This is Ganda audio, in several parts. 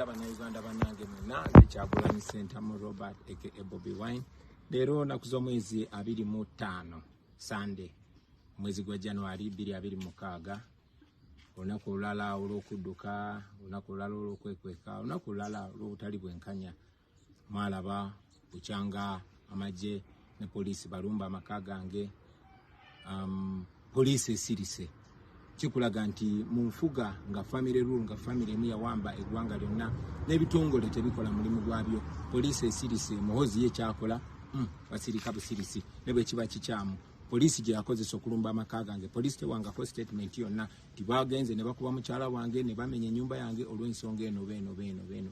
abanauganda banange mwena nze kyagulanyi sentamu robert eke ebobi wine leero naku z'omwezi abiri mu ttaano sande omwezi gwa januari biri abiri mukaaga olunaku olulala olw'okudduka olunaku olulala olw'okwekweka olunaku olulala olw'obutali bwenkanya mwalaba bukyanga amagye ne poliisi balumba amaka gange um, poliisi esirise kikulaga nti mu nfuga nga famire rule nga famire emu yawamba eggwanga lyonna n'ebitongole tebikola mulimu gwabyo poliisi esirise muhozi ye kyakola hmm, basirika busirisi ne bwe kiba kikyamu poliisi gye yakozesa okulumba amaka gange poliisi tewangako statement yonna nti bagenze ne bakuba mukyala wange ne bamenya ennyumba yange olw'ensonga eno beeno beeno beeno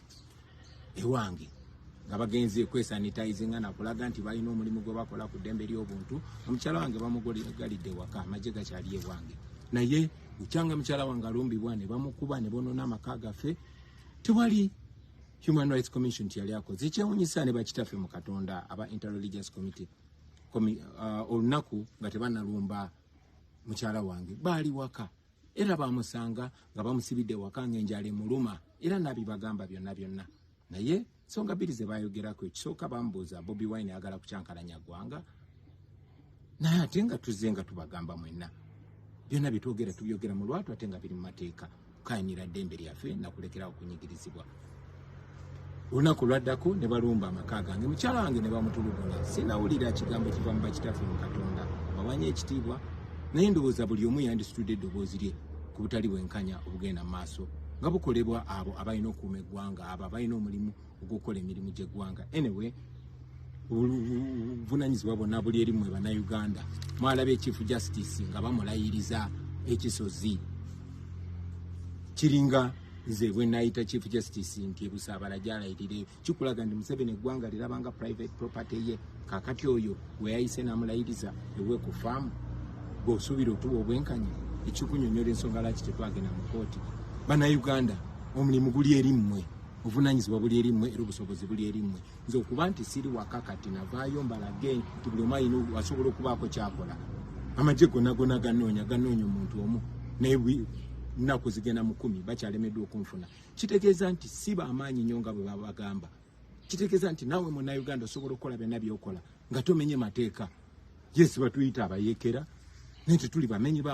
ewange nga bagenze kwesanitizinga nakulaga nti balina omulimu gwe bakola ku ddembe ly'obuntu omukyala wange bamugalidde waka amagye gakyali ewange naye ukyanga mukyala wange alumbibwa ne bamukuba ne bonona amaka gaffe tewali human rights commission tiyali akoze ekyewunyisa ne bakitaffe mu katonda aba interreligious committee uh, olunaku nga tebanalumba mukyala wange baali waka era bamusanga nga bamusibidde waka ng'enjala emuluma era nabibagamba byonna byonna naye nsonga bbiri ze bayogerako ekisooka bamubuuza bobi wine ayagala kukyankalanya ggwanga naye ate nga tuzze nga tubagamba mwenna byonna byetwogera tubyogera mu lwatu ate nga biri mu mateeka kukayinira ddembe lyaffe nakulekerawo okunyigirizibwa olunaku lwaddako ne balumba amaka gange mukyala wange ne bamutulugunya sinawulira kigambo kiva mu bakitaffe mu katonda bawanya ekitiibwa naye ndowooza buli omu yandisitudde eddoboozi lye ku butali bwenkanya obugenda mu maaso nga bukolebwa abo abalina okuuma eggwanga abo abalina omulimu ogw'okukola emirimu gy'eggwanga anyway obuvunanyizibwa bonna buli eri mwe bannayuganda mwalaba ekifu justice nga bamulayiriza ekisozi kiringa nze bwenayita chief justice nti ebusaabala gyalayirire kikulaga nti museveni eggwanga lirabanga private property ye kakati oyo weyayise namulayiriza ewe ku faamu gweosuubira otuba obwenkanya ekikunyonyola ensonga laki tetwagenda mu kooti bannayuganda omulimu guli eri mmwe obuvunanyizibwa buli eri mmwe era obusobozi buli eri mmwe nze okuba nti siri waka kati navaayo mbalage nti buli omu alina asobola okubaako kyakola amagye gona gona ganoonya ganoonya omuntu omu naye nnaku zigenda mu kumi bakyalemeddwa okunfuna kitegeeza nti si bamaanyi nnyo nga bwe babagamba kitegeeza nti naawe munauganda osobola okukola byonna byokola nga tomenye mateeka yesi batuyita abayekera naye tetuli bamenyi ba